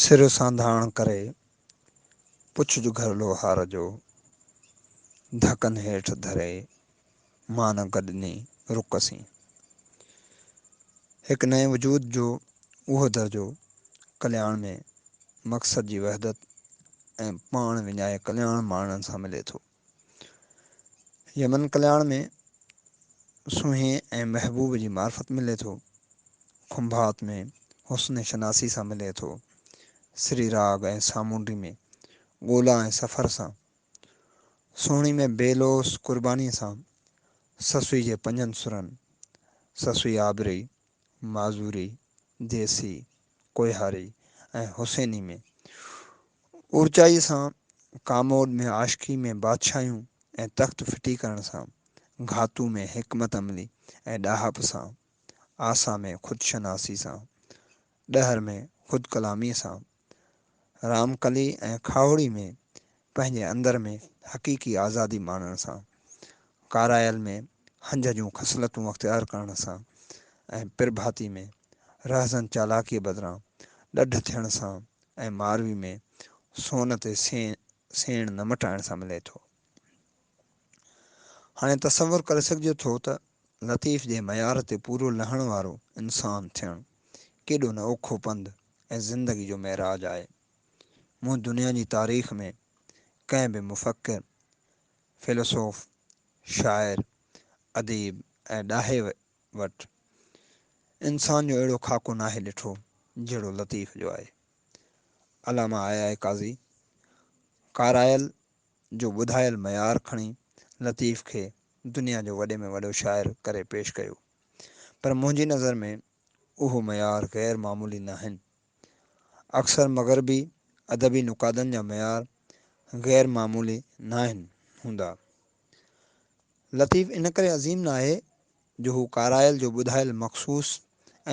سر سانڌاڻ ڪري پڇج گهر لوهار جو، ڌڪن هيٺ ڌري مان گڏني رڪ سين. هڪ نئين وجود جو اهو درجو ڪلياڻ ۾ مقصد جي وحدت ۽ پاڻ وڃائي ڪلياڻ ماڻڻ سان ملي ٿو. يمن ڪلياڻ ۾ سونهين ۽ محبوب جي معرفت ملي ٿو. کنڀات ۾ حسن شناسي سان ملي ٿو. سري راڳ ۽ سامونڊي ۾ ڳولا ۽ سفر سان. سهڻي ۾ بي لوث قربانيء سان سسئي جي پنجن سرن، سسئي آبري، معذوري، ديسي، ڪوهياري ۽ حسيني ۾ اورچائيء سان ڪاموڏ ۾ عاشقي ۾ بادشاهيون ۽ تخت ڦٽي ڪرڻ سان گهاتو ۾ حڪمت عملي ۽ ڏاهپ سان آسا ۾ خودشناسي سان ڏهر ۾ خودڪلاميء سان رامڪلي ۽ کاهوڙي ۾ پنهنجي اندر ۾ حقيقي آزادي ماڻڻ سان، ڪارايل ۾ هنج جون خصلتون اختيار ڪرڻ سان ۽ پرڀاتي ۾ رهزن چالاڪيء بدران ڏڍ ٿيڻ سان ۽ ماروي ۾ سون تي سيڻ نه مٽائڻ سان ملي ٿو. هاڻي تصور ڪري سگهجي ٿو ته لطيف جي معيار تي پورو لهڻ وارو انسان ٿيڻ ڪيڏو نه اوکو پنڌ، ۽ زندگي جو معراج آهي. مون دنيا جي تاريخ ۾ ڪنهن به مفڪر، فيلسوف، شاعر، اديب ۽ ڏاهي وٽ انسان جو اهڙو خاڪو ناهي ڏٺو جهڙو لطيف جو آهي. علامه آء آء قاضي ڪارائل جو ٻڌايل معيار کڻي لطيف کي دنيا جو وڏي ۾ وڏو شاعر ڪري پيش ڪيو پر منهنجي نظر ۾ اهو معيار غير معمولي ناهن. اڪثر مغربي ادبي نقادن جا معيار غير معمولي ناهن هوندا. لطيف ان ڪري عظيم ناهي جو هو ڪارايل جو ٻڌايل مخصوص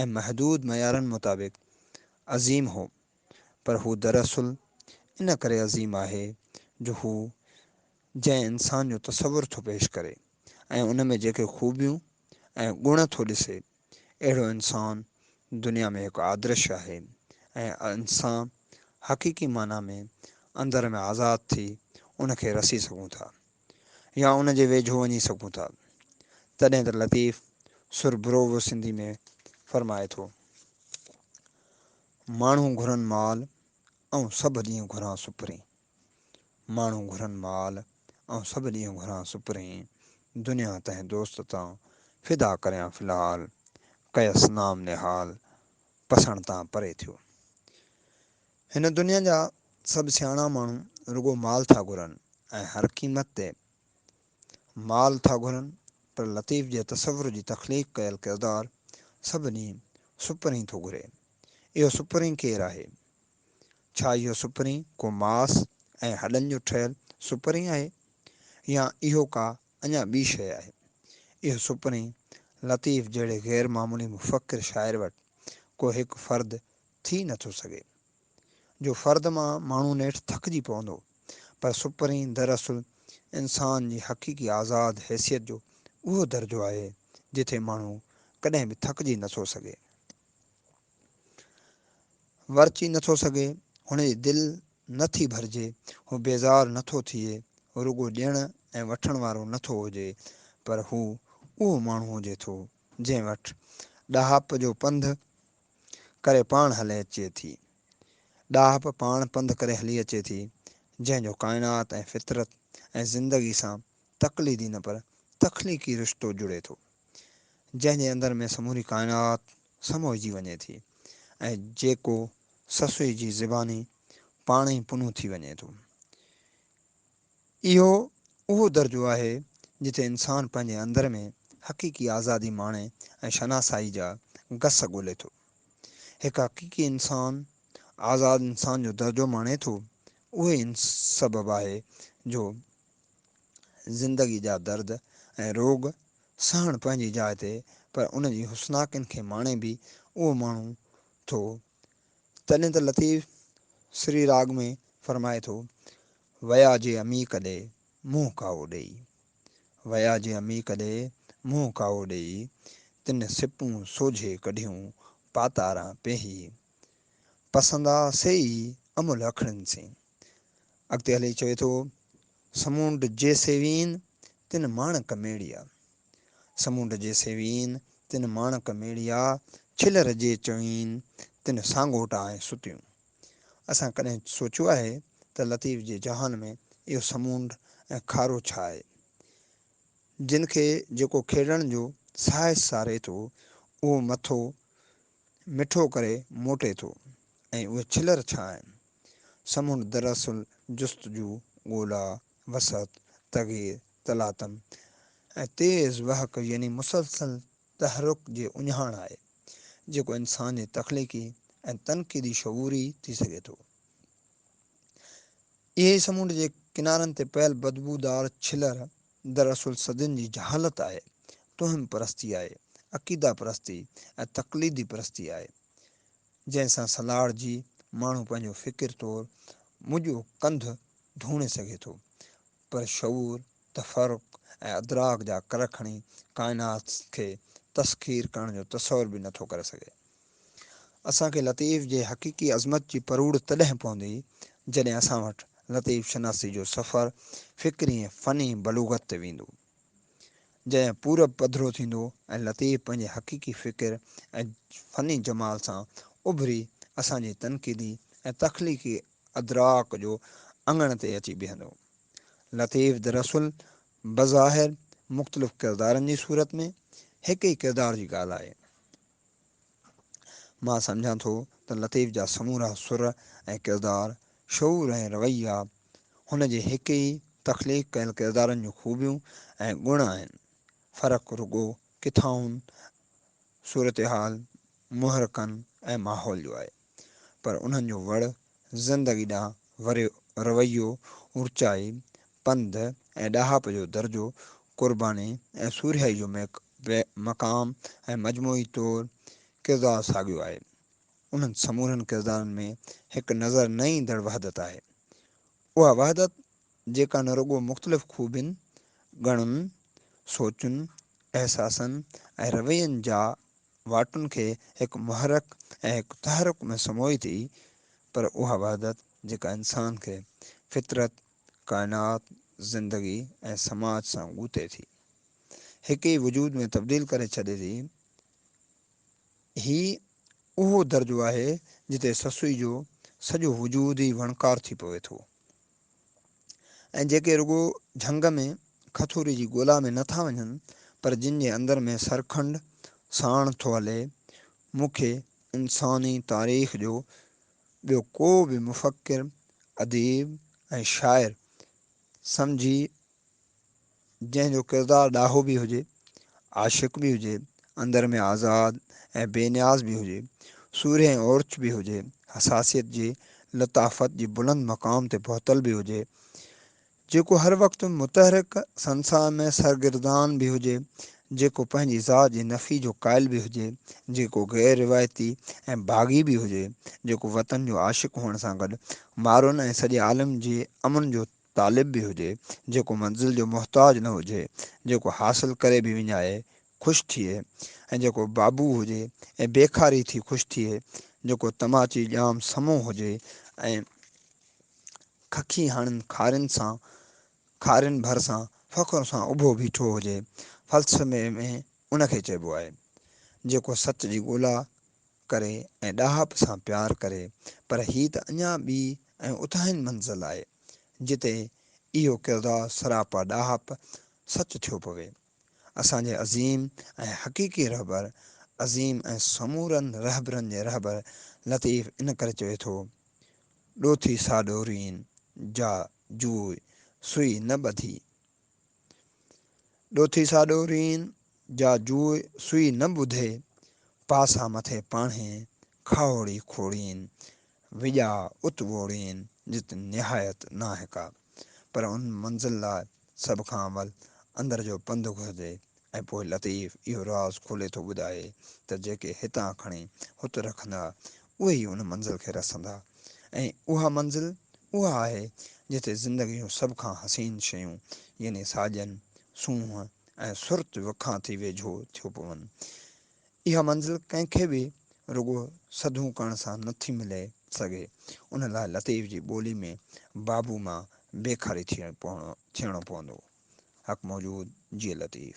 ۽ محدود معيارن مطابق عظيم هو، پر هو دراصل ان ڪري عظيم آهي جو هو جنهن انسان جو تصور ٿو پيش ڪري ۽ ان ۾ جيڪي خوبيون ۽ گڻ ٿو ڏسي، اهڙو انسان دنيا ۾ هڪ آدرش آهي ۽ انسان حقيقي معنيٰ ۾ اندر ۾ آزاد ٿي ان کي رسي سگهون ٿا يا ان جي ويجهو وڃي سگهون ٿا تڏهن ته لطيف سربروو سنڌي ۾ فرمائي ٿو ماڻهو گهرن مال ۽ سڀ ڏينهن گهران سپرين. ماڻهو گهرن مال، آئون سڀ ڏينهن گهران سپرين، دنيا تنهن دوست تان، فدا ڪريان في الحال، ڪيس نام نهال، پسڻ تان پري ٿيو. هن دنيا جا سڀ سياڻا ماڻهو رڳو مال ٿا گهرن ۽ هر قيمت تي مال ٿا گهرن پر لطيف جي تصور جي تخليق ڪيل ڪردار سڀ ڏينهن سپرين ٿو گهري. اهو سپرين ڪير آهي؟ ڇا اهو سپرين ڪو ماس ۽ هڏن جو ٺهيل سپرين آهي يا اهو ڪا اڃا ٻي شيء آهي؟ اهو سپرين لطيف جهڙي غير معمولي مفڪر شاعر وٽ ڪو هڪ فرد ٿي نه ٿو سگهي، جو فرد مان ماڻهو نيٺ ٿڪجي پوندو، پر سپرين دراصل انسان جي حقيقي آزاد حيثيت جو اهو درجو آهي، جتي ماڻهو ڪڏهن به ٿڪجي نه ٿو سگهي. ورچي نه ٿو سگهي، هن جي دل نه ٿي ڀرجي، هو بيزار نه ٿو ٿئي، هو رڳو ڏيڻ ۽ وٺڻ وارو نه ٿو هجي، پر هو اهو ماڻهو هجي ٿو، جنهن وٽ ڏاهپ جو پنڌ ڪري پاڻ هلي اچي ٿي. ڏاهپ پاڻ پنڌ ڪري هلي اچي ٿي، جنهن جو ڪائنات ۽ فطرت ۽ زندگي سان تقليدي نه پر تخليقي رشتو جڙي ٿو. جنهن جي اندر ۾ سموري ڪائنات سموئجي وڃي ٿي ۽ جيڪو سسئي جي زباني پاڻ ئي پنو ٿي وڃي ٿو. اهو اهو درجو آهي جتي انسان پنهنجي اندر ۾ حقيقي آزادي ماڻي ۽ شناسائي جا گس ڳولي ٿو. هڪ حقيقي انسان آزاد انسان جو درجو ماڻي ٿو اهو ئي ان سبب آهي جو زندگي جا درد ۽ روڳ سهڻ پنهنجي جاء تي پر ان جي حسناڪين کي ماڻي به اهو ماڻهو ٿو. تڏهن ته لطيف سري راڳ ۾ فرمائي ٿو، ويا جي عميق ڏي، منهن ڪاوو ڏيئي. ويا جي عميق ڏي، منهن ڪاوو ڏيئي، تن سپون سوجهي ڪڍيون، پاتاران پيهي. پسندا سيئي، املهه اکڙين سين. اڳتي هلي چوي ٿو، سمونڊ جي سيوين تن ماڻڪ ميڙيا، سمونڊ جي سيوين تن ماڻڪ ميڙيا، ڇلر جي چوين تن سانگوٽا ۽ ستيون. اسان ڪڏهن سوچيو آهي ته لطيف جي جهان ۾ اهو سمونڊ ۽ کارو ڇا آهي؟ جن کي جيڪو کيڙڻ جو ساهس ساري ٿو، اهو مٿو مٺو ڪري موٽي ٿو ۽ اهي ڇلر ڇا آهن؟ سمنڊ دراصل جستجو، ڳولا، وسعت، تغير، تلاطم ۽ تيز وهڪ يعني مسلسل تحرڪ جي اهڃاڻ آهي، جيڪو انسان جي تخليقي ۽ تنقيدي شعور ئي ٿي سگهي ٿو. اهي ئي سمنڊ جي ڪنارن تي پيل بدبودار ڇلر در اصل صدين جي جهالت آهي، توهم پرستي آهي، عقيده پرستي ۽ تقليدي پرستي آهي، جنهن سان سلهاڙجي ماڻهو پنهنجو فڪر طور منهنجو ڪنڌ ڌوڻي سگهي ٿو، پر شعور، تفرق ۽ ادراڪ جا ڪر کڻي ڪائنات کي تسخير ڪرڻ جو تصور به نه ٿو ڪري سگهي. اسان کي لطيف جي حقيقي عظمت جي پروڙ تڏهن پوندي، جڏهن اسان وٽ لطيف شناسي جو سفر فڪري ۽ فني بلوغت تي ويندو. جڏهن پورب پڌرو ٿيندو ۽ لطيف پنهنجي حقيقي فڪر ۽ فني جمال سان اڀري اسان جي تنقيدي ۽ تخليقي ادراڪ جو اڱڻ تي اچي بيهندو. لطيف دراصل بظاهر مختلف ڪردارن جي صورت ۾ هڪ ئي ڪردار جي ڳالهه آهي. مان سمجهان ٿو ته لطيف جا سمورا سر ۽ ڪردار، شعور ۽ رويا هن جي هڪ ئي تخليق ڪيل ڪردارن جون خوبيون ۽ گڻ آهن، فرق رڳو ڪٿائن صورتحال، محرڪن ۽ ماحول جو آهي، پر انهن جو وڙ زندگي ڏانهن وري رويو، اوچائي، پنڌ ۽ ڏاهپ جو درجو، قرباني ۽ سورهيائي جو ميڪ به مقام ۽ مجموعي طور ڪردار ساڳيو آهي. انهن سمورن ڪردارن ۾ هڪ نظر نه ايندڙ وحدت آهي. اها وحدت جيڪا نه رڳو مختلف خوبين، گڻن، سوچن، احساسن ۽ روين جا واٽن کي هڪ محرڪ ۽ هڪ تحرڪ ۾ سموئي ٿي پر اها وحدت جيڪا انسان کي فطرت ڪائنات، زندگي ۽ سماج سان ڳوتي ٿي، هڪ ئي وجود ۾ تبديل ڪري ڇڏي ٿي. هي اهو درجو آهي جتي سسئي جو سڄو وجود ئي وڻڪار ٿي پوي ٿو ۽ جيڪي رڳو جهنگ ۾ کٿوري جي ڳولا ۾ نه ٿا وڃن پر جن جي اندر ۾ سرکنڊ ساڻ ٿو هلي. مون کي انساني تاريخ جو ٻيو ڪو به مفڪر، اديب ۽ شاعر سمجهي جنهن جو ڪردار ڏاهو به هجي، عاشق به هجي، اندر ۾ آزاد ۽ بي نياز به هجي، سورهيه ۽ اورچ به هجي، حساسيت جي لطافت جي بلند مقام تي پهتل به هجي، جيڪو هر وقت متحرڪ سنساء ۾ سرگردان به هجي، جيڪو پنهنجي ذات جي نفي جو قائل به هجي، جيڪو غير روايتي ۽ باغي به هجي، جيڪو وطن جو عاشق هئڻ سان گڏ مارون ۽ سڄي عالم جي امن جو طالب به هجي، جيڪو منزل جو محتاج نه هجي، جيڪو حاصل ڪري به وڃائي، خوش ٿئي ۽ جيڪو بابو هجي ۽ بيڪاري ٿي خوش ٿئي، جيڪو تماچي ڄام سمو هجي ۽ ککي هڻن کارين سان کارين ڀرسان فخر سان اڀو بيٺو هجي، فلسفي ۾ ان کي چئبو آهي، جيڪو سچ جي ڳولا ڪري ۽ ڏاهپ سان پيار ڪري، پر هي ته اڃا ٻي ۽ اتاهين منزل آهي، جتي اهو ڪردار سراپا ڏاهپ سچ ٿيو پوي. اسان جي عظيم ۽ حقيقي رهبر عظيم ۽ سمورن رهبرن جي رهبر لطيف ان ڪري چوي ٿو، ڏوٿي سا ڏورين، جا جوء سوئي نه ٻڌي. ڏوٿي سا ڏورين، جا جوء سوئي نه ٻڌي، پاسا مٿي پاڻهين، کاهوڙي کوڙين، وڄاء ات ووڙين جت نهايت ناهه ڪا. پر ان منزل لاء سڀ کان اول اندر جو پنڌ گهرجي ۽ پوء لطيف اهو راز کولي ٿو ٻڌائي ته جيڪي هتان کڻي هت رکندا اهي ئي ان منزل کي رسندا ۽ اها منزل اها آهي جتي زندگي جون سڀ کان حسين شيون يعني ساڄن، سونهن ۽ سرت وکان ٿي ويجهو ٿيو پون. اها منزل ڪنهن کي به رڳو سڌون ڪرڻ سان نه ٿي ملي سگهي، ان لاء لطيف جي ٻولي ۾ بابو مان بيخاري ٿيڻو پوندو. حق موجود، جيئي لطيف.